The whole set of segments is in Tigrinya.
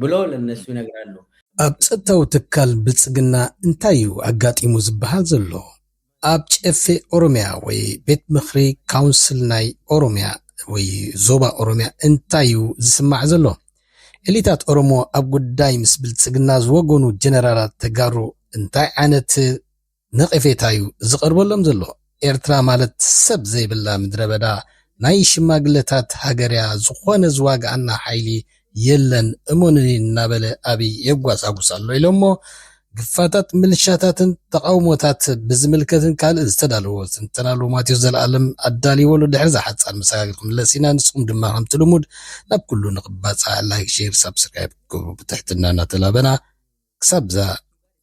ብሎ ለነሱ ይነግራሉ። ኣብ ጸጥታዊ ትካል ብልጽግና እንታይ'ዩ ኣጋጢሙ ዝበሃል ዘሎ? ኣብ ጨፌ ኦሮሚያ ወይ ቤት ምኽሪ፣ ካውንስል፣ ናይ ኦሮሚያ ወይ ዞባ ኦሮሚያ እንታይ'ዩ ዝስማዕ ዘሎ? ኤሊታት ኦሮሞ ኣብ ጉዳይ ምስ ብልጽግና ዝወገኑ ጀነራላት ተጋሩ እንታይ ዓይነት ነቐፌታ'ዩ ዝቐርበሎም ዘሎ። ኤርትራ ማለት ሰብ ዘይብላ ምድረበዳ ናይ ሽማግለታት ሃገር'ያ፣ ዝኾነ ዝዋግኣና ሓይሊ የለን እመኑኒ እናበለ ኣብይ የጓሳጉስ ኣሎ ኢሎሞ። ግፋታት ምልሻታትን ተቓውሞታት ብዝምልከትን ካልእን ዝተዳለወ ትንተናሉ ማቴዎስ ዘልኣለም ኣዳሊዎሉ ድሕሪ'ዛ ሓጻር መሰጋገሪ ክንምለስ ኢና ንስኹም ድማ ከምቲ ልሙድ ናብ ኩሉ ንኽባጻሕ ላይክ ሼር ሳብስክራይብ ክትገብሩ ብትሕትና እናተላበና ክሳብ'ዛ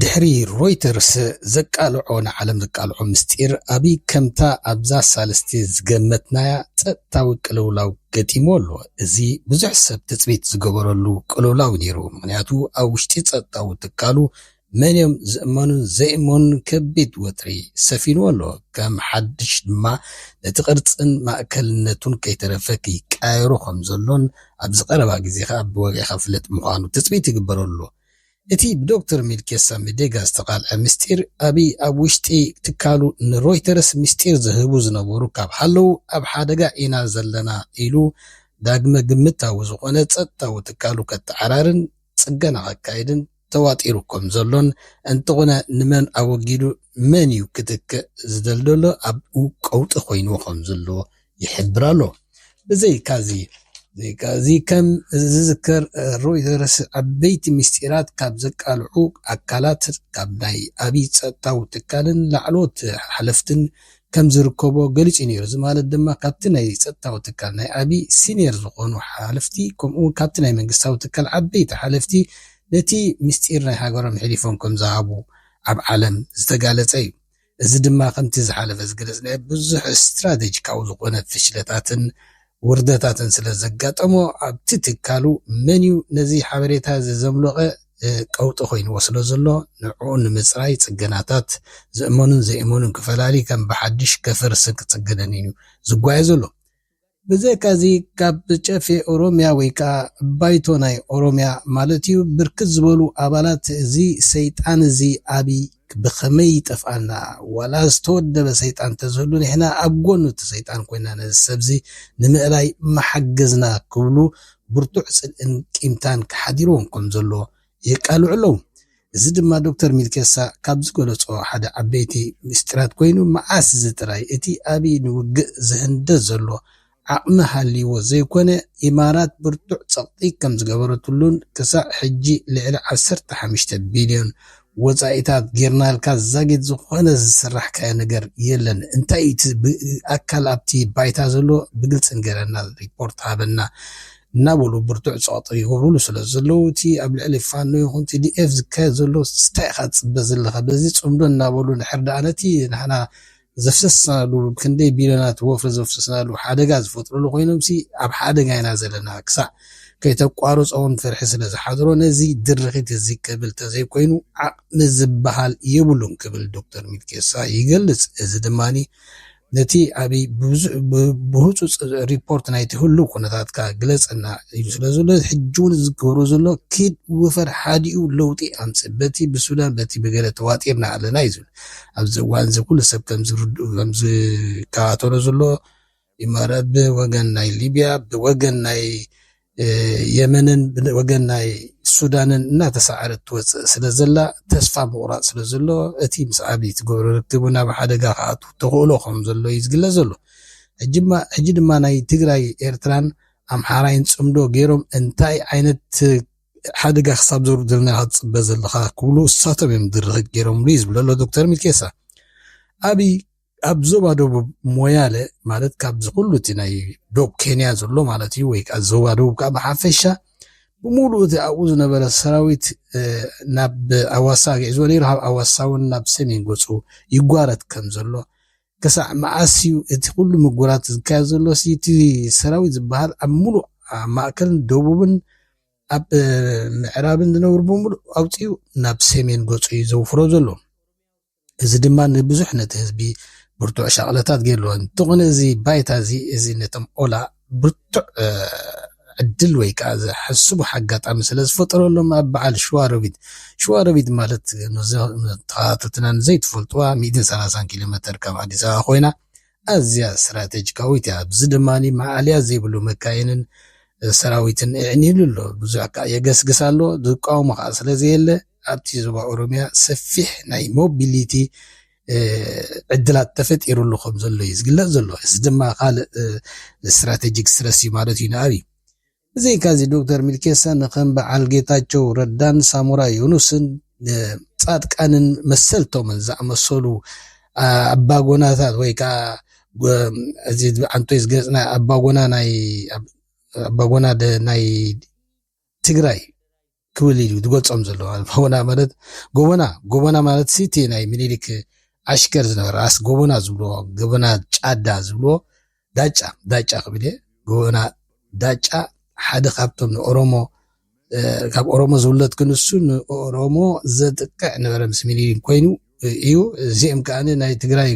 ድሕሪ ሮይተርስ ዘቃልዖ ንዓለም ዘቃልዖ ምስጢር ኣብይ ከምታ ኣብዛ ሳልስቲ ዝገመትናያ ጸጥታዊ ቅልውላው ገጢምዎ ኣሎ። እዚ ብዙሕ ሰብ ትጽቢት ዝገበረሉ ቅልውላው ነይሩ ምኽንያቱ ኣብ ውሽጢ ጸጥታዊ ትካሉ መንዮም ዝእመኑን ዘይእመኑን ከቢድ ወጥሪ ሰፊንዎ ኣሎ። ከም ሓድሽ ድማ ነቲ ቅርጽን ማእከልነቱን ከይተረፈ ክይቀያየሮ ከምዘሎን ኣብዚ ቀረባ ግዜ ከኣ ብወግዒ ክፍለጥ ምዃኑ ትጽቢት ይግበረሉ። እቲ ብዶክተር ሚልኬሳ ሚዴጋ ዝተቓልዐ ምስጢር፣ ኣብይ ኣብ ውሽጢ ትካሉ ንሮይተርስ ምስጢር ዝህቡ ዝነበሩ ካብ ሃለዉ ኣብ ሓደጋ ኢና ዘለና ኢሉ ዳግመ ግምታዊ ዝኾነ ጸጥታዊ ትካሉ ከትዓራርን ጽገና ከካይድን ተዋጢሩ ከም ዘሎን እንተኾነ ንመን ኣወጊዱ መንዩ ክትክእ ዝደልደሎ ኣብኡ ቀውጢ ኮይንዎ ከም ዝሎ ይሕብር ኣሎ። ብዘይካዚ፣ እዚ ከም ዝዝከር ሮይተርስ ዓበይቲ ምስጢራት ካብ ዘቃልዑ ኣካላት ካብ ናይ ኣብይ ጸጥታዊ ትካልን ላዕለዎት ሓለፍትን ከም ዝርከቦ ገሊጹ ነይሩ። እዚ ማለት ድማ ካብቲ ናይ ጸጥታዊ ትካል ናይ ኣብይ ሲንየር ዝኾኑ ሓለፍቲ ከምኡ'ውን ካብቲ ናይ መንግስታዊ ትካል ዓበይቲ ሓለፍቲ ነቲ ምስጢር ናይ ሃገሮም ሒሊፎም ከም ዝሃቡ ኣብ ዓለም ዝተጋለጸ እዩ። እዚ ድማ ከምቲ ዝሓለፈ ዝገለጽናዮ ብዙሕ ስትራተጂካዊ ዝኾነ ፍሽለታትን ውርደታትን ስለ ዘጋጠሞ ኣብቲ ትካሉ መንዩ ነዚ ሓበሬታ እዚ ዘምሎቐ ቀውጢ ኮይንዎ ስለ ዘሎ ንዕኡ ንምጽራይ ጽገናታት ዝእመኑን ዘይእመኑን ክፈላሊ ከም ብሓድሽ ከፍርስን ክጽገነንንዩ ዝጓየ ዘሎ። ብዘይካ'ዚ ካብ ጨፌ ኦሮሚያ ወይ ከኣ ባይቶ ናይ ኦሮሚያ ማለት'ዩ ብርክት ዝበሉ ኣባላት እዚ ሰይጣን'ዚ ኣብይ ብኸመይ ይጠፍኣና ዋላ ዝተወደበ ሰይጣን እንተዝህሉ ንሕና ኣብ ጎኑ'ቲ ሰይጣን ኮይና ነዚ ሰብ'ዚ ንምእላይ ምሓገዝና ክብሉ ብርቱዕ ጽልእን ቂምታን ሓዲርዎም ከምዘሎ የቃልዑ ኣለዉ። እዚ ድማ ዶክተር ሚልኬሳ ካብ ዝገለጾ ሓደ ዓበይቲ ምስጢራት ኮይኑ መዓስ እዚ ጥራይ እቲ ኣብይ ንውግእ ዝህንደስ ዘሎ ዓቕሚ ሃልይዎ ዘይኮነ ኢማራት ብርቱዕ ጸቕጢ ከም ዝገበረትሉን ክሳዕ ሕጂ ልዕሊ ዓሰርተ ሓሙሽተ ቢልዮን ወጻኢታት ጌርናልካ ዛጊት ዝኾነ ዝስራሕካዮ ነገር የለን እንታይ እዩ እቲ ኣካል ኣብቲ ባይታ ዘሎ ብግልጺ ንገረና ሪፖርት ሃበና እናበሉ ብርቱዕ ጸቕጢ ይገብሩሉ ስለ ዘለዉ፣ እቲ ኣብ ልዕሊ ፋኖ ይኹን ቲዲኤፍ ዝካየድ ዘሎ ስታይ ኢኻ ትጽበ ዘለኻ፣ በዚ ጽምዶ እናበሉ ድሕር ደኣ ነቲ ንሕና ዘፍሰስናሉ ብክንደይ ቢልዮናት ወፍሪ ዘፍሰስናሉ ሓደጋ ዝፈጥሩሉ ኮይኖምሲ ኣብ ሓደጋ ኢና ዘለና ክሳዕ ከይተቋርጾውን ፍርሒ ስለ ዝሓድሮ ነዚ ድርኺት እዚ ክብል ተዘይኮይኑ ዓቕሚ ዝበሃል የብሉን ክብል ዶክተር ሚልኬሳ ይገልጽ። እዚ ድማ ነቲ ዓቢ ብህጹጽ ሪፖርት ናይቲ ህሉው ኩነታትካ ግለጸልና ኢሉ ስለ ዘሎ ሕጂውን እዚ ዝገብሮ ዘሎ ኪድ ውፈር ሓዲኡ ለውጢ ኣምጽእ በቲ ብሱዳን በቲ ብገለ ተዋጢርና ኣለና እዩ ዝብል ኣብዚ እዋን እዚ ኩሉ ሰብ ከም ዝርድኡ ከም ዝከታተሎ ዘሎ ኢማራት ብወገን ናይ ሊብያ ብወገን ናይ የመንን ብወገን ናይ ሱዳንን እናተሰዓረት ትወፅእ ስለዘላ ተስፋ ምቑራፅ ስለዘሎ እቲ ምስ ኣብይ ትገብሮ ርክብ እውን ኣብ ሓደጋ ክኣቱ ተኽእሎ ከም ዘሎ እዩ ዝግለፅ ዘሎ። ሕጂ ድማ ናይ ትግራይ ኤርትራን ኣምሓራይን ፅምዶ ገይሮም እንታይ ዓይነት ሓደጋ ክሳብ ዘውርድልና ኢኻ ትፅበ ዘለኻ ክብሉ እሳቶም እዮም ድርኺት ገይሮምሉ እዩ ዝብለሎ ዶክተር ሚልኬሳ ኣብይ ኣብ ዞባ ደቡብ ሞያለ ማለት ካብዚ ኩሉ እቲ ናይ ዶብ ኬንያ ዘሎ ማለት እዩ ወይ ከዓ ዞባ ደቡብ ከዓ ብሓፈሻ ብምሉእ እቲ ኣብኡ ዝነበረ ሰራዊት ናብ ኣዋሳ ኣግዒዝዎ ነይሩ ካብ ኣዋሳ እውን ናብ ሰሜን ገፁ ይጓረት ከም ዘሎ ክሳዕ መዓስ እዩ እቲ ኩሉ ምጉራት ዝካየድ ዘሎ ሲ እቲ ሰራዊት ዝበሃል ኣብ ሙሉእ ኣብ ማእከልን ደቡብን ኣብ ምዕራብን ዝነብሩ ብምሉእ ኣውፂኡ ናብ ሰሜን ገፁ እዩ ዘውፍሮ ዘሎ እዚ ድማ ንብዙሕ ነቲ ህዝቢ ብርቱዕ ሻቕሎታት ገይርዎ። እንተኾነ እዚ ባይታ እዚ እዚ ነቶም ኦላ ብርቱዕ ዕድል ወይ ከኣ ዝሕስቡ ሓጋጣሚ ስለ ዝፈጠረሎም ኣብ በዓል ሽዋሮቢት ሽዋሮቢት ማለት ንተኸታተልትና ንዘይትፈልጥዋ ሚእትን ሰላሳን ኪሎ መተር ካብ ኣዲስ ኣበባ ኮይና ኣዝያ ስትራቴጂካዊት እያ። ኣብዚ ድማ መኣልያ ዘይብሉ መካይንን ሰራዊትን እዕኒሉ ኣሎ። ብዙሕ ከኣ የገስግስ ኣሎ፣ ዝቃወሞ ከኣ ስለ ዘየለ። ኣብቲ ዞባ ኦሮሚያ ሰፊሕ ናይ ሞቢሊቲ ዕድላት ተፈጢሩሉ ከም ዘሎ እዩ ዝግለጽ ዘሎ እዚ ድማ ካልእ ስትራቴጂክ ስትረስ እዩ ማለት እዩ ንኣብይ ብዘይካዚ ዶክተር ሚልኬሳ ንከም በዓል ጌታቸው ረዳን ሳሞራ ዮኑስን ጻድቃንን መሰልቶምን ዝኣመሰሉ ኣባጎናታት ወይ ከዓ እዚ ኣንቶይ ዝገለፅና ኣባጎና ናይ ኣባጎና ናይ ትግራይ ክብል ኢዩ ዝገልጾም ዘሎ ጎበና ማለት ጎበና ጎበና ማለት ሲ እቲ ናይ ምኒልክ ዓሽከር ዝነበረ ራእሲ ጎበና ዝብልዎ ጎበና ጫዳ ዝብልዎ ዳጫ ዳጫ ክብል እየ ጎበና ዳጫ ሓደ ካብቶም ንኦሮሞ ካብ ኦሮሞ ዝውለድ ክንሱ ንኦሮሞ ዘጥቅዕ ነበረ ምስ ምኒልክ ኮይኑ እዩ እዚኦም ከዓ ናይ ትግራይ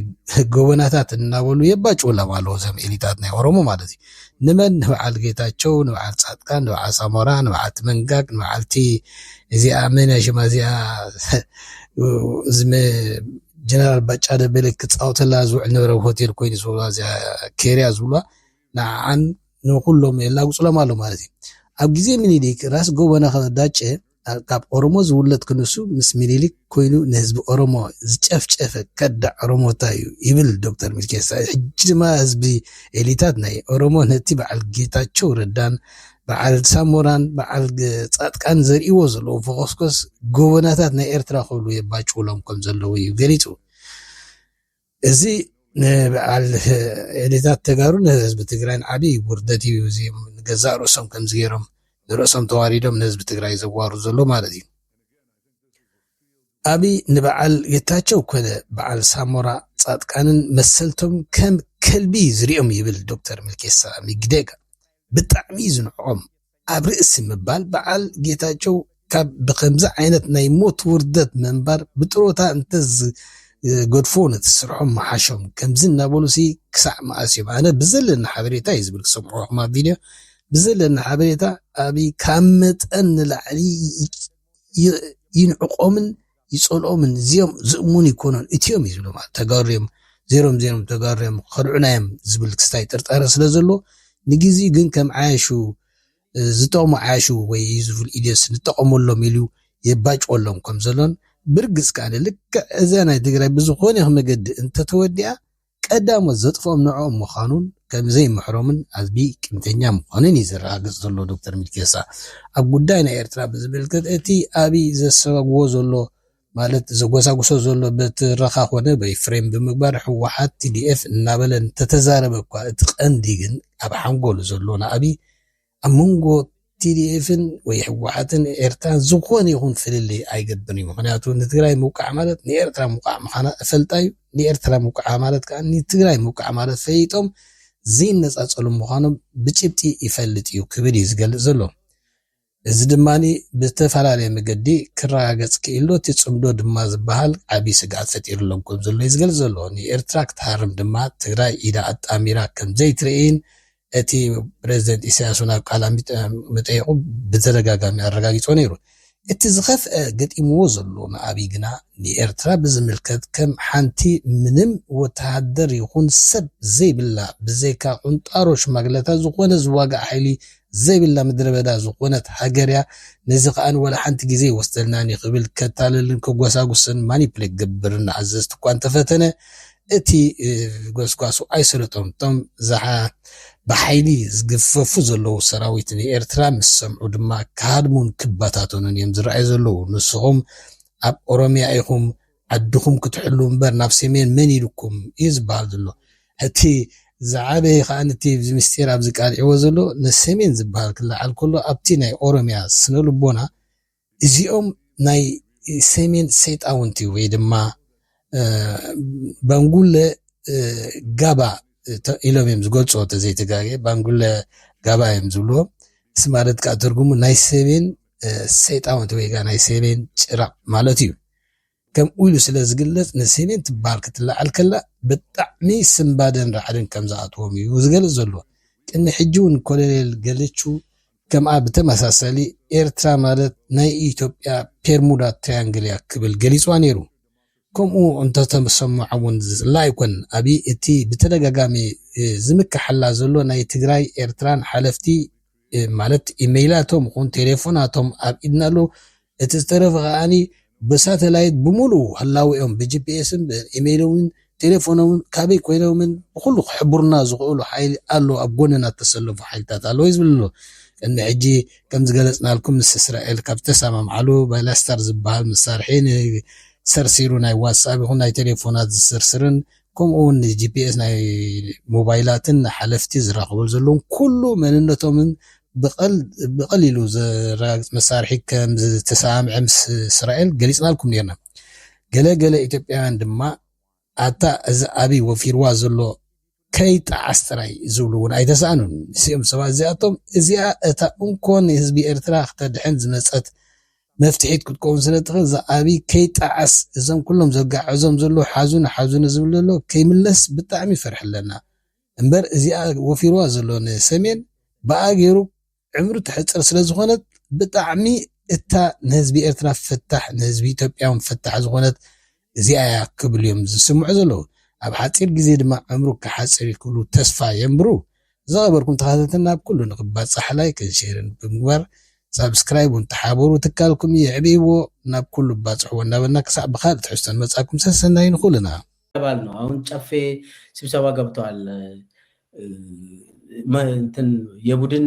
ጎበናታት እናበሉ የባጭውሎም ኣለዉ ዘም ኤሊታት ናይ ኦሮሞ ማለት እዩ ንመን ንበዓል ጌታቸው ንበዓል ፃድቃን ንበዓል ሳሞራ ንበዓልቲ መንጋግ ንበዓልቲ እዚኣ መን ሽማ እዚኣ ዝመ ጀነራል ባጫ ደበለ ክፃወተላ ዝውዕል ነበረ ሆቴል ኮይኑ ዝብላ እዚኣ ኬርያ ዝብሏ ንዓዓን ንኩሎም የላግፅሎም ኣሎ ማለት እዩ ኣብ ግዜ ምኒልክ ራስ ጎበና ከዳጨ ካብ ኦሮሞ ዝውለድ ክንሱ ምስ ሚኒሊክ ኮይኑ ንህዝቢ ኦሮሞ ዝጨፍጨፈ ከዳዕ ኦሮሞታ እዩ ይብል ዶክተር ሚልኬሳ። ሕጂ ድማ ህዝቢ ኤሊታት ናይ ኦሮሞ ነቲ በዓል ጌታቸው ረዳን በዓል ሳሞራን በዓል ጻጥቃን ዘርእይዎ ዘለዉ ፎኾስኮስ ጎቦናታት ናይ ኤርትራ ክብሉ የባጭውሎም ከምዘለዉ እዩ ገሊጹ። እዚ ንበዓል ኤሊታት ተጋሩ ንህዝቢ ትግራይን ዓብይ ውርደት እዩ። እዚ ንገዛእ ርእሶም ከምዚ ገይሮም ንርእሶም ተዋሪዶም ንህዝቢ ትግራይ ዘዋሩ ዘሎ ማለት እዩ። ኣብይ ንበዓል ጌታቸው ኮነ በዓል ሳሞራ ፃድቃንን መሰልቶም ከም ከልቢ ዝሪኦም ይብል ዶክተር ሚልኬሳ ሚግዴጋ ብጣዕሚ እዩ ዝንዕቆም። ኣብ ርእሲ ምባል በዓል ጌታቸው ካብ ብኸምዚ ዓይነት ናይ ሞት ውርደት ምንባር ብጥሮታ እንተዝገድፉዎ ነቲ ስርሖም ምሓሾም። ከምዚ እናበሉሲ ክሳዕ መኣስ እዮም? ኣነ ብዘለኒ ሓበሬታ እዩ ዝብል ክሰምዖ ከለኹ ኣብ ቪድዮ ብዘለኒ ሓበሬታ ኣብይ ካብ መጠን ንላዕሊ ይንዕቆምን ይጸልኦምን እዚኦም ዝእሙን ኣይኮኑን እቲኦም እዩ ዝብሎም ማለት ተጋሩ እዮም ዜሮም ዜሮም ተጋሩ እዮም ክኸድዑና እዮም ዝብል ክስታይ ጥርጣረ ስለ ዘሎ ንግዜኡ ግን ከም ዓያሹ ዝጠቕሙ ዓያሹ ወይ እዩ ዝብል ኢልዮስ ንጠቐመሎም ኢሉ የባጭወሎም ከም ዘሎን ብርግጽ ከኣ ልክዕ እዛ ናይ ትግራይ ብዝኾነ ይኹን መገዲ እንተተወዲኣ ቀዳሞት ዘጥፍኦም ንዕኦም ምዃኑን ከም ዘይምሕሮምን ኣዝቢ ቅንተኛ ምዃኑን እዩ ዘረጋግጽ ዘሎ ዶክተር ሚልኬሳ። ኣብ ጉዳይ ናይ ኤርትራ ብዝምልከት እቲ ኣብይ ዘሰጋግዎ ዘሎ ማለት ዘጎሳጉሶ ዘሎ ብትረኻ ኮነ ወይ ፍሬም ብምግባር ህወሓት፣ tdf እናበለ እንተተዛረበ እኳ እቲ ቀንዲ ግን ኣብ ሓንጎሉ ዘሎ ንኣብይ ኣብ መንጎ ቲዲኤፍን ወይ ህወሓትን ኤርትራን ዝኾነ ይኹን ፍልልይ ኣይገብርን እዩ። ምኽንያቱ ንትግራይ ምውቃዕ ማለት ንኤርትራ ምውቃዕ ምዃና እፈልጣ እዩ። ንኤርትራ ምውቃዓ ማለት ከዓ ንትግራይ ምውቃዕ ማለት ፈሊጦም ዘይነፃፀሉ ምዃኖም ብጭብጢ ይፈልጥ እዩ ክብል እዩ ዝገልፅ ዘሎ። እዚ ድማ ብዝተፈላለየ መገዲ ክረጋገፅ ክኢሎ እቲ ፅምዶ ድማ ዝበሃል ዓብዪ ስግኣት ፈጢርሎም ከምዘሎ እዩ ዝገልፅ ዘሎ። ንኤርትራ ክትሃርም ድማ ትግራይ ኢዳ ኣጣሚራ ከምዘይትርእይን እቲ ፕረዚደንት ኢሳያስ'ውን ኣብ ቃለ መጠይቑ ብተደጋጋሚ ኣረጋጊጾ ነይሩ። እቲ ዝኸፍኣ ገጢምዎ ዘሎ ንኣብይ ግና ንኤርትራ ብዝምልከት ከም ሓንቲ ምንም ወተሃደር ይኹን ሰብ ዘይብላ ብዘይካ ቁንጣሮ ሽማግለታት ዝኾነ ዝዋጋእ ሓይሊ ዘይብላ ምድረበዳ ዝኾነት ሃገር'ያ ነዚ ከኣ ዋላ ሓንቲ ግዜ ኣይወስደልናን'ዩ ክብል ከታልልን ከጓሳጉስን ማኒፕሌት ክገብርን ንኣዘዝቲ'ኳ እንተፈተነ እቲ ጎስጓሱ ኣይሰለጦም። እቶም ብሓይሊ ዝግፈፉ ዘለዉ ሰራዊት ንኤርትራ ምስ ሰምዑ ድማ ክሃድሙን ክበታተኑን እዮም ዝረኣዩ ዘለዉ። ንስኹም ኣብ ኦሮምያ ኢኹም ዓድኹም ክትሕልዉ እምበር ናብ ሰሜን መን ኢሉኩም እዩ ዝበሃል ዘሎ። እቲ ዝዓበየ ከኣ እቲ ምስጢር ኣብዚ ቃሊዕዎ ዘሎ ንሰሜን ዝበሃል ክለዓል ከሎ ኣብቲ ናይ ኦሮምያ ስነልቦና እዚኦም ናይ ሰሜን ሰይጣውንቲ ወይ ድማ ባንጉለ ጋባ ኢሎም እዮም ዝገልፅዎ ተዘይ ተጋግየ ባንጉለ ጋባ እዮም ዝብልዎ እዚ ማለት ከዓ ትርጉሙ ናይ ሰሜን ሰይጣውንቲ ወይ ከዓ ናይ ሰሜን ጭራ ማለት እዩ ከምኡ ኢሉ ስለ ዝግለጽ ንሲኒን ትበሃል ክትለዓል ከላ ብጣዕሚ ስንባደን ራዕድን ከም ዝኣትዎም እዩ ዝገልጽ ዘሎ። ቅድሚ ሕጂ ውን ኮሎኔል ገለቹ ከምኣ ብተመሳሳሊ ኤርትራ ማለት ናይ ኢትዮጵያ ፔርሙዳ ትሪያንግል እያ ክብል ገሊጽዋ ነይሩ። ከምኡ እንተተሰምዖም ውን ዝጽላእ ኣይኮነን። ኣብይ እቲ ብተደጋጋሚ ዝምከሓላ ዘሎ ናይ ትግራይ ኤርትራን ሓለፍቲ ማለት ኢመይላቶም ኹን ቴሌፎናቶም ኣብ ኢድና ኣሎ እቲ ዝተረፈ ከዓኒ ብሳተላይት ብሙሉ ህላዊኦም ብጂፒኤስን ኢመይሎምን ቴሌፎኖምን ካበይ ኮይኖምን ብኩሉ ክሕብሩና ዝኽእሉ ሓይሊ ኣሎ ኣብ ጎንና ተሰለፉ ሓይልታት ኣለዉ እዩ ዝብል ዘሎ ቅድሚ ሕጂ ከም ዝገለጽናልኩም ምስ እስራኤል ካብ ዝተሰማምዓሉ ባይላስታር ዝበሃል መሳርሒ ንሰርሲሩ ናይ ዋትስኣፕ ይኹን ናይ ቴሌፎናት ዝስርስርን ከምኡ ውን ንጂፒኤስ ናይ ሞባይላትን ንሓለፍቲ ዝራኸበሉ ዘለውን ኩሉ መንነቶምን ብቐሊሉ ዘረጋግጽ መሳርሒ ከም ዝተሰማምዐ ምስ እስራኤል ገሊጽናልኩም ኔርና። ገለ ገለ ኢትዮጵያውያን ድማ ኣታ እዚ ኣብይ ወፊርዋ ዘሎ ከይጠዓስ ጥራይ ዝብሉ ውን ኣይተሳእኑን። እዚኦም ሰባት እዚኣቶም እዚኣ እታ እንኮ ንህዝቢ ኤርትራ ክተድሕን ዝመጸት መፍትሒት ክትከውን ስለ እትኽእል እዚ ኣብይ ከይጣዓስ እዞም ኩሎም ዘጋዕዞም ዘለዉ ሓዙኒ ሓዙኒ ዝብል ዘሎ ከይምለስ ብጣዕሚ ፍርሒ ኣለና እምበር እዚኣ ወፊርዋ ዘሎ ንሰሜን ብኣ ገይሩ ዕምሪ ተሕጽር ስለ ዝኾነት ብጣዕሚ እታ ንህዝቢ ኤርትራ ፍታሕ ንህዝቢ ኢትዮጵያ ውን ፍታሕ ዝኾነት እዚኣ እያ ክብሉ እዮም ዝስምዑ ዘለዉ። ኣብ ሓጺር ግዜ ድማ ዕምሩ ክሓጽር እዩ ክብሉ ተስፋ የንብሩ። ዝኸበርኩም ተኸታተልና ኣብ ኩሉ ንክባጻሕ ላይክን ሼርን ብምግባር ሳብስክራይብ ውን ተሓበሩ ትካልኩም የዕብይዎ ናብ ኩሉ ባጽሕዎ እንዳበልና ክሳዕ ብካልእ ትሕዝቶ ንመጻኩም ሰሰናዩ ንኩልና። ይባል ነው አሁን ጨፌ ስብሰባ ገብተዋል እንትን የቡድን